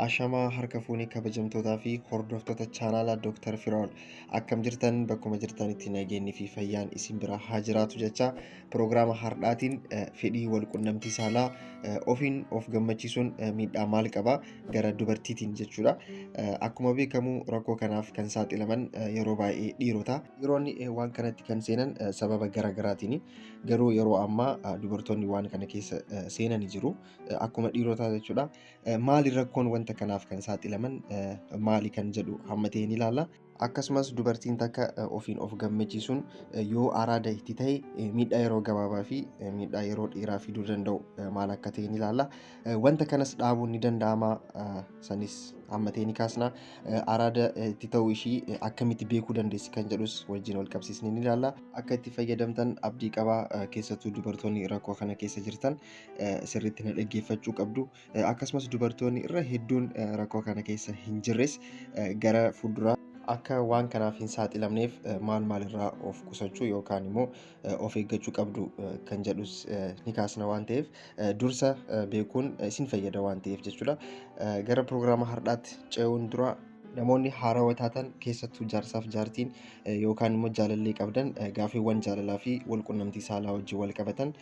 Ashamaa harka fuunee kabajamtootaa fi hordoftoota chaanaalaa Dr. Firaa'ol akkam jirtan bakkuma jirtanitti nageenyi fi fayyaan isin biraa haa jiraatu jecha piroogiraama har'aatiin eh, fedhii wal qunnamtii saalaa eh, ofiin of gammachiisuun eh, miidhaa maal qaba gara dubartiitiin jechuudha. Eh, Akkuma beekamu rakkoo kanaaf kan saaxilaman eh, yeroo baay'ee dhiirota. Dhiironni waan kanatti kan seenan sababa gara garaatiin garuu yeroo ammaa dubartoonni waan kana keessa seenani jiru akkuma dhiirotaa jechuudha. Maali rakkoon wanta kanaaf kan saaxilaman maali kan jedhu hamma ta'e ni ilaalla. Akkasumas dubartiin takka ofiin of gammachiisuun yoo araada itti ta'e miidhaa yeroo gabaabaa fi miidhaa yeroo dheeraa fiduu danda'u maal akka ta'e ni ilaalla. Wanta kanas dhaabuun ni danda'ama. Sanis hammatee ni kaasna. Araada itti ta'uu ishii akkamitti beekuu dandeessi kan jedhus wajjin wal qabsiisnee ni ilaalla. Akka itti fayyadamtan abdii qaba. Keessattuu dubartoonni rakkoo kana keessa jirtan sirriitti na dhaggeeffachuu qabdu. Akkasumas dubartoonni irra hedduun rakkoo kana keessa hin jirres gara fuulduraa akka waan kanaaf hin saaxilamneef maal maalirraa of qusachuu yookaan immoo of eeggachuu qabdu kan jedhus ni kaasna waan ta'eef dursa beekuun isin fayyada waan ta'eef jechuudha. Gara pirogiraama har'aatti ce'uun dura namoonni haarawa taatan keessattuu jaarsaaf jaartiin yookaan immoo jaalallee qabdan gaaffiiwwan jaalalaa fi walqunnamtii saalaa wajjin wal qabatan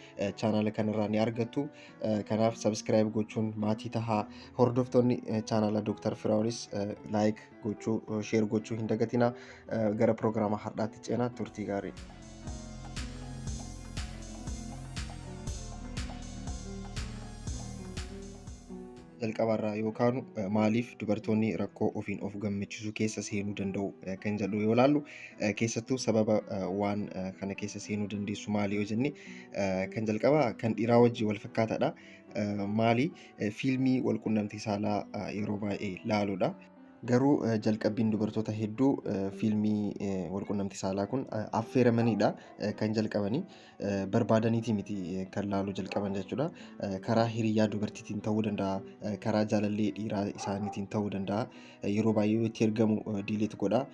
chaanaala kanarraa ni argattu. Kanaaf sabiskiraayib gochuun maatii tahaa hordoftoonni chaanaala Dooktar Firaa'olis laayik gochuu sheer gochuu hin dagatina gara piroogiraama har'aatti ceenaa turtii gaarii. jalqabarraa yoo kaanu maaliif dubartoonni rakkoo ofiin of gammachiisuu keessa seenuu danda'u kan jedhu yoo ilaallu keessattuu sababa waan kana keessa seenuu dandeessu maali yoo jenne kan jalqabaa kan dhiiraa wajjin wal fakkaataadha. Maali fiilmii walqunnamtii saalaa yeroo baay'ee laaluudha. Garuu jalqabbiin dubartoota hedduu fiilmii walqunnamtii saalaa kun affeeramaniidha kan jalqabanii barbaadaniitii miti kan laaluu jalqaban jechuudha. Karaa hiriyaa dubartiitiin ta'uu danda'a, karaa jaalallee dhiiraa isaaniitiin ta'uu danda'a. Yeroo baay'ee yoo itti ergamu diileet godha,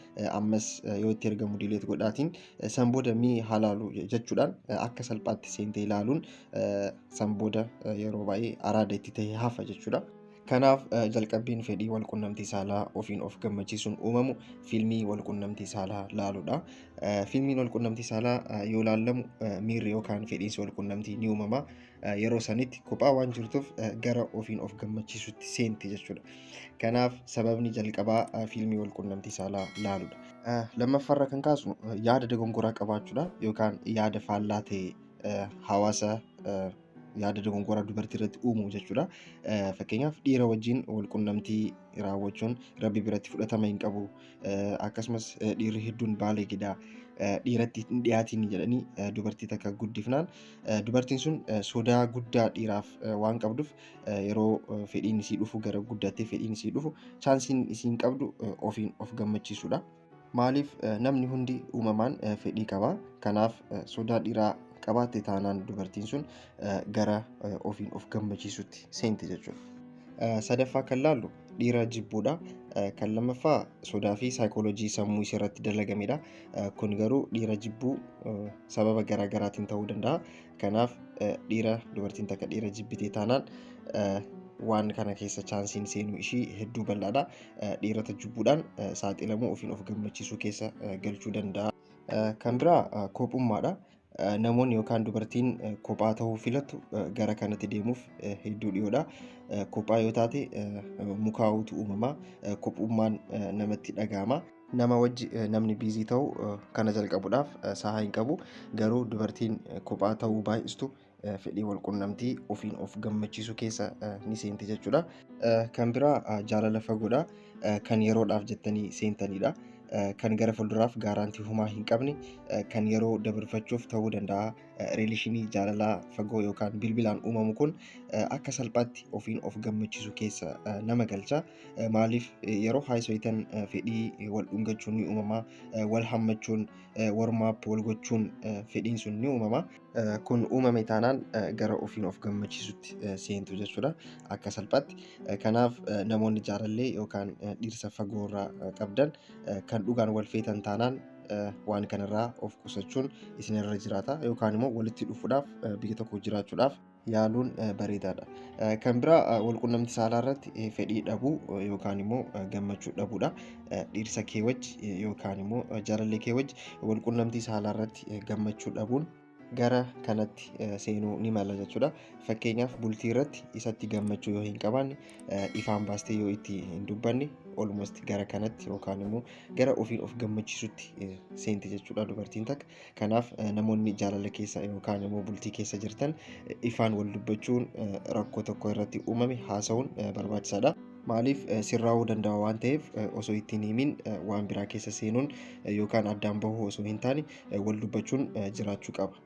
ammas yoo itti ergamu diileet godhaatiin san booda mee haa laalu jechuudhaan akka salphaatti seentee ilaaluun san booda yeroo baay'ee araada itti ta'ee hafa jechuudha. Kanaaf jalqabbiin fedhii walqunnamtii saalaa ofiin of gammachiisuun uumamu fiilmii walqunnamtii saalaa laaluudha. Fiilmiin walqunnamtii saalaa yoo laallamu miirri yookaan fedhiinsi walqunnamtii ni uumama. Yeroo sanitti kophaa waan jirtuuf gara ofiin of gammachiisutti seenti jechuudha. Kanaaf sababni jalqabaa fiilmii walqunnamtii saalaa laaluudha. Lammaffaarra kan kaasnu yaada dogongoraa qabaachuudha yookaan yaada faallaa ta'e hawaasa yaada dogongoraa dubartii irratti uumu jechuudha. Fakkeenyaaf dhiira wajjin walqunnamtii raawwachuun rabbi biratti fudhatama hin qabu. Akkasumas dhiirri hedduun baaleegedha. Dhiiratti hin dhiyaatiin jedhanii dubartii takka guddifnaan dubartiin sun sodaa guddaa dhiiraaf waan qabduuf yeroo fedhiin isii dhufu gara guddattee fedhiin isii dhufu chaansiin isiin qabdu ofiin of gammachiisudha. Maaliif namni hundi uumamaan fedhii qaba. Kanaaf sodaa dhiiraa qabaatte taanaan dubartiin sun gara ofiin of gammachiisutti seenti jechuudha. Sadaffaa kan laallu dhiira jibbuudha. Kan lammaffaa sodaa fi saayikooloojii sammuu ishee irratti dalagamedha. Kun garuu dhiira jibbuu sababa garaagaraatiin ta'uu danda'a. Kanaaf dhiira dubartiin takka dhiira jibbitee taanaan waan kana keessa chaansiin seenuu ishii hedduu bal'aadha. Dhiirota jibbuudhaan saaxilamuu ofiin of gammachiisuu keessa galchuu danda'a. Kan biraa kophummaadha. Namoonni yookaan dubartiin kophaa ta'uu filatu gara kanatti deemuuf hedduu dhiyoodha. Kophaa yoo taate mukaa'uutu uumama. Kophummaan namatti dhaga'ama. Nama wajji namni biizii ta'u kana jalqabuudhaaf sahaa hin qabu. Garuu dubartiin kophaa ta'uu baay'istu fedhii walqunnamtii ofiin of gammachiisuu keessa ni seenti jechuudha. Kan biraa jaalala fagoodha. Kan yeroodhaaf jettanii seentaniidha. Kan gara fuulduraaf gaaraantii humaa hin qabne kan yeroo dabarfachuuf ta'uu danda'a. Riilishinii jaalalaa fagoo yookaan bilbilaan uumamu kun akka salphaatti ofiin of gammachiisu keessa nama galcha. Eh, Maaliif eh, yeroo haayisoitan eh, fedhii eh, wal dhungachuun ni uumama, eh, wal hammachuun, eh, warmaap wal gochuun eh, fedhiin sun ni uumama. Eh, Kun uumame taanaan eh, gara ofiin of gammachiisutti eh, seentu jechuudha akka salphaatti. Eh, Kanaaf eh, namoonni jaalallee yookaan eh, dhirsa fagoo irraa eh, qabdan eh, kan dhugaan wal feetan taanaan eh, waan kanarraa of qusachuun isinirra jiraata yookaan immoo walitti dhufuudhaaf eh, biyya tokko jiraachuudhaaf yaaluun bareedaadha. Kan biraa walqunnamti saalaa irratti fedhii dhabuu yookaan immoo gammachuu dhabuudha. Dhiirsa kee wajji yookaan immoo jaalallee kee wajji walqunnamtii saalaa irratti gammachuu dhabuun gara kanatti seenuu ni mala jechuudha. Fakkeenyaaf bultii irratti isatti gammachuu yoo hin qabaanne ifaan baastee yoo itti hin dubbanne olmost gara kanatti yookaan immoo gara ofiin of gammachiisutti seenti jechuudha dubartiin takka. Kanaaf namoonni jaalala keessa yookaan immoo bultii keessa jirtan ifaan wal dubbachuun rakkoo tokko irratti uumame haasa'uun barbaachisaadha. Maaliif sirraa'uu danda'a waan ta'eef osoo itti hin himin waan biraa keessa seenuun yookaan addaan bahuu osoo hin taane wal dubbachuun jiraachuu qaba.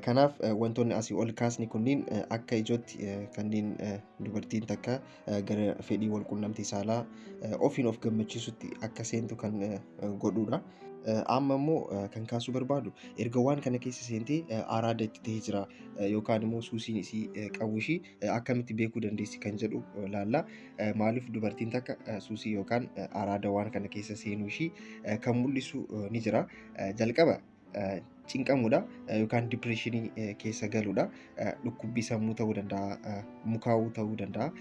Kanaaf wantoonni asii ol kaasne kunniin akka ijootti kanneen dubartiin takka gara fedhii wal qunnamtii saalaa ofiin of gammachiisutti akka seentu kan godhuudha. Amma immoo kan kaasuu barbaadu erga waan kana keessa seentee araada itti ta'ee jira yookaan immoo suusiin isii qabu ishii akkamitti beekuu dandeessi kan jedhu laalla. Maaliif dubartiin takka suusii yookaan araada waan kana keessa seenuu ishii kan mul'isu ni jira. Jalqaba cinqamuudha yookaan dipireeshinii keessa galuudha. Dhukkubbii sammuu ta'uu danda'a, mukaa'uu ta'uu danda'a.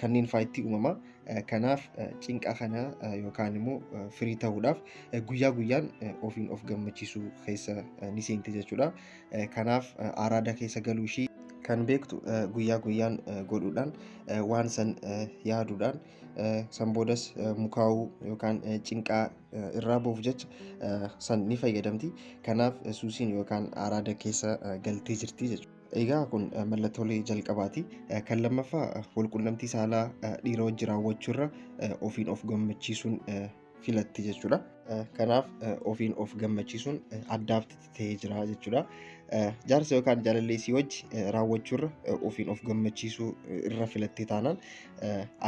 Kanneen faayitti uumama. Kanaaf cinqa kana yookaan immoo firii ta'uudhaaf guyyaa guyyaan ofiin of gammachiisuu keessa ni seenti jechuudha. Kanaaf araada keessa galuu ishii kan beektu guyyaa guyyaan godhuudhaan waan san yaaduudhaan san boodas mukaa'uu yookaan cinqaa irraa ba'uuf jecha san ni fayyadamti. Kanaaf suusiin yookaan araada keessa galtee jirti jechuudha. Egaa kun mallattoolee jalqabaati. Kan lammaffaa walqunnamtii saalaa dhiira wajji raawwachuurra ofiin of gammachiisuun filatti jechuudha. Kanaaf ofiin of gammachiisuun addaaf ta'ee jira jechuudha. Jaarsa yookaan jaalallee isii wajji raawwachuurra ofiin of gammachiisuu irra filattee taanaan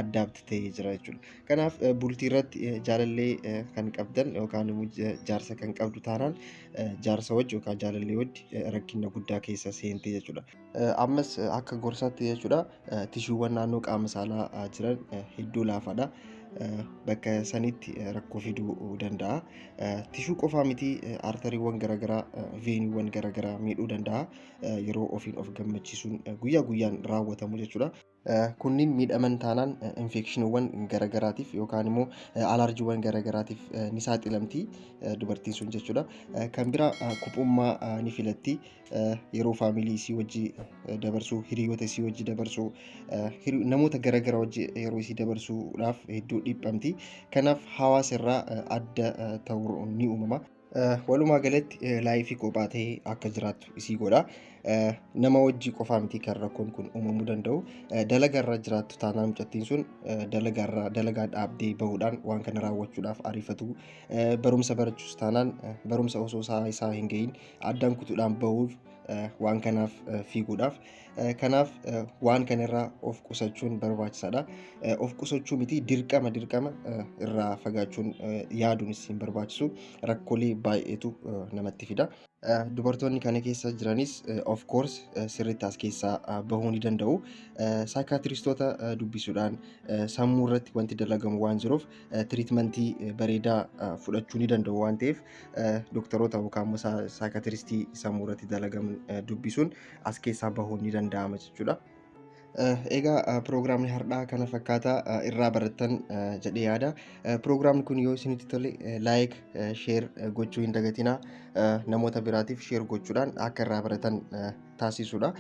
addaabti ta'ee jira jechuudha. Kanaaf bultii irratti jaalallee kan qabdan yookaan immoo jaarsa kan qabdu taanaan jaarsa wajji yookaan jaalallee wajji rakkina guddaa keessa seentee jechuudha. Ammas akka gorsaatti jechuudha. tishuuwwan naannoo qaama saalaa jiran hedduu laafaadha. Bakka sanitti rakkoo fiduu danda'a. Tishuu qofaa miti artariiwwan garaagaraa, veeniiwwan garaagaraa miidhuu danda'a. Yeroo ofiin of gammachiisuun guyyaa guyyaan raawwatamu jechuudha. Kunniin miidhaman taanaan infeekshiniiwwan garaagaraatiif yookaan immoo alaarjiiwwan garaagaraatiif ni saaxilamti dubartiin sun jechuudha. Kan biraa kuphummaa ni filatti. yeroo faamilii isii wajji dabarsuu hiriyoota isii wajji dabarsuu namoota garaagaraa wajji yeroo isii dabarsuudhaaf hedduu dhiphamti kanaaf hawaasa irraa adda ta'uu ni uumama. Walumaa galatti laayifii kophaa ta'e akka jiraattu isii godha. Nama wajji qofaa miti kan rakkoon kun uumamuu danda'u. Dalagaa irraa jiraattu taanaan mucattiin sun dalagaa irraa dalagaa dhaabdee bahuudhaan waan kana raawwachuudhaaf ariifatu. Barumsa barachuus taanaan barumsa osoo isaa isaa hin gahin addaan kutuudhaan bahuuf waan kanaaf fiiguudhaaf kanaaf waan kanarraa of qusachuun barbaachisaadha. Of qusachuu miti dirqama dirqama irraa fagaachuun yaaduunis hin barbaachisu rakkoolee baay'eetu namatti fida. Dubartoonni kana keessa jiranis of course sirriitti as keessaa bahuu ni danda'u. Saayikaatiristoota dubbisuudhaan sammuu irratti wanti dalagamu waan jiruuf tiriitmentii bareedaa fudhachuu ni danda'u waan ta'eef dooktaroota yookaan immoo saayikatiristii sammuu irratti dalagaman dubbisuun as keessaa bahuun ni danda'ama jechuudha. Egaa piroogiraamni har'aa kana fakkaata irraa barattan jedhee yaada. Piroogiraamni kun yoo isinitti tole laayik, sheer gochuu hin dagatinaa. Namoota biraatiif sheer gochuudhaan akka irraa baratan taasisuudha.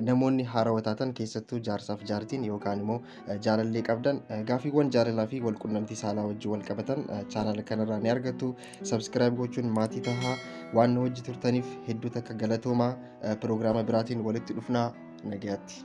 Namoonni haarawa taatan keessattuu jaarsaaf jaartiin yookaan immoo jaalallee qabdan gaaffiiwwan jaalalaa fi walqunnamtii saalaa wajjin wal qabatan chaanala kanarraa ni argattu. Sabskiraayib gochuun maatii tahaa waan nu wajji turtaniif hedduu takka galatoomaa piroogiraama biraatiin walitti dhufnaa nagayaatti.